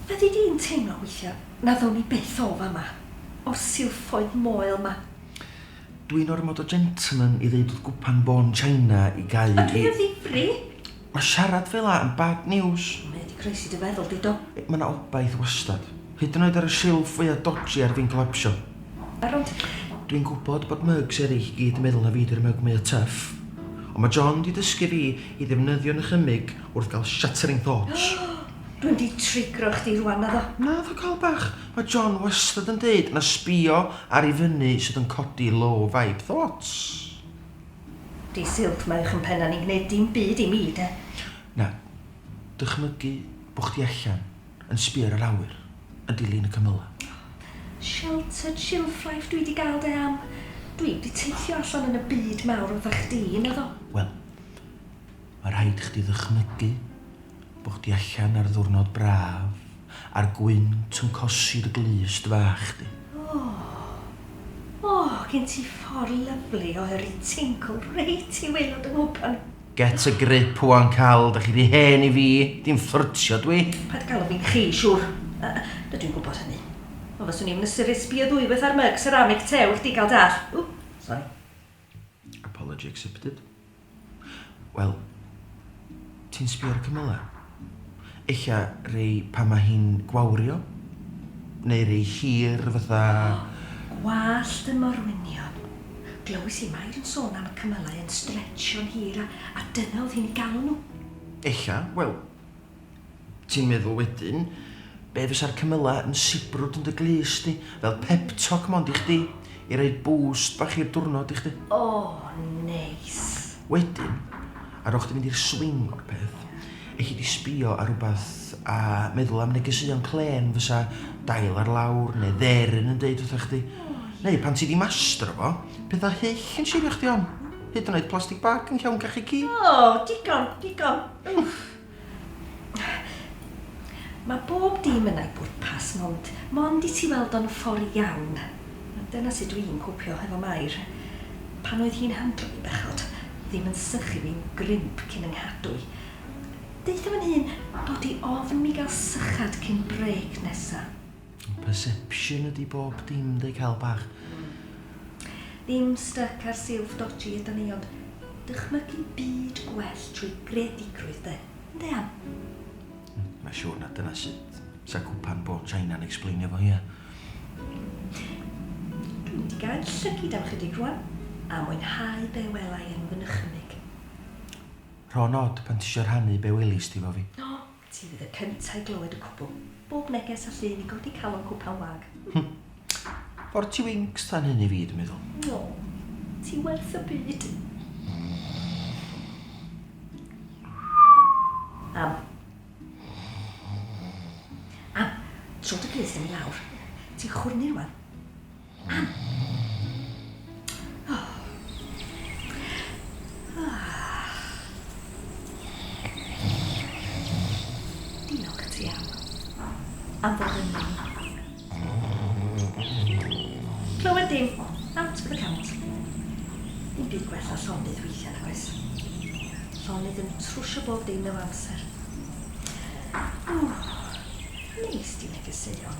Fyddi di'n teimlo weithiau na ddown ni byth o fama, o'r silffoedd moel 'ma? Dwi'n ormod o gentleman i ddeud wrth gwpan bôn China i gau i... A dwi yn ddifri! Mae siarad fel 'na yn bad news. Mae 'di croesi dy feddwl di, do. Mae 'na obaith wastad. Hyd yn oed ar y silff fwya dodgy ar fin collapsio. Be' rŵan ti? Dwi'n gwbod bod mugs eryll i gyd yn meddwl na fi 'di'r mug mwya tuff. Ond mae John 'di dysgu fi i ddefnyddio nychymyg wrth gael shattering thoughts. Dwi mynd i triggro chdi rŵan, naddo? Naddo Cal bach, mae John wastad yn deud na sbio ar i fyny sydd yn codi low vibe thoughts. Dydd Sul, mae eich mhennau ni'n gwneud dim byd i mi, de? Na. Dychmygu bod chdi allan, yn sbio ar yr awyr, yn dilyn y cymylau. O, sheltered shilfrife dwi 'di gael de, am. Dwi'm 'di teithio allan yn y byd mawr fatha chdi, naddo? Wel. Mae rhaid chdi ddychmygu bod chdi allan ar ddwrnod braf a'r gwynt yn cosi dy glust fach di. Oh, oh, gen ti ffordd lyfli o yrru tincl reit i waelod 'y nghwpan. Get a grip ŵan Cal, dach chi rhy hen i fi, dim fflyrtio dw i. Paid galw fi'n 'chi', siŵr. Dydw i'n gwybod hynny. Ond fyswn i'm yn ystyried sbio ddwywaith ar myg seramic tew i chdi gael dall. Ww, sori. Apology accepted. Wel, ti'n sbio ar y cymylau? Ella rei pan mae hi'n gwawrio? Neu rei hir fatha... O, gwallt y morwynion. Glywis i Mair yn sôn am y cymylau yn stretsio'n hir a dyna oedd hi'n ei galw nhw. Ella, wel, Ti'n meddwl wedyn, be fysa'r cymylau yn sibrwd yn dy glust di, fel pep talk mond i chdi, i roi boost bach i'r diwrnod i chdi. O, neis. Wedyn, ar ôl chdi mynd i'r swing o'r peth, elli di sbio ar rywbeth a meddwl am negeseuon clên fysa dail ar lawr neu dderyn yn deud wrtha chdi. Neu pan ti di mastro fo, pethau hyll yn siwrio chdi on. Hyd yn oed plastig bag yn llawn cachu cig. O, digon, digon. Mae bob dim yn ei bwrpas, mond, mond i ti weld o'n ffordd iawn. Dyna sut dw i'n copio hefo Mair. Pan oedd hi'n handro fi bechod, ddim yn sychu fi'n grimp cyn 'y nghadw i. Deutha fy nhŷn dod i ofn mi gael sychad cyn brêc nesa. Perception ydi bob dim de Cael bach. Ddim styc ar silff dodgy ydan ni ond dychmygu byd gwell trwy greadigrwydd de. Ynde Ann? Mae siwr na dyna sut 'sa cwpan bôn China'n explainio fo ia. Dwi'n mynd i gael llygid am chydig rwan a mwynhau be welai yn fy nychymyg. Rho'n od pan tisio rhannu be welis di 'fo fi. O! Ti fydd y cynta i glywed y cwbl. Bob neges a llun i godi calon cwpan wag. Hm. Fo'r ti winks tan hyn i fi, dwi'n meddwl. O. Ti werth y byd. Am. Am. Tro dy plith yn i lawr. Ti'n chwrnu rwan. am bod yn ni. Clywed dim, out for the count. Dim byd gwella llonydd weithiau nag oes. Llonydd yn trwsio bob dim mewn amser. Ww, neis di negeseuon.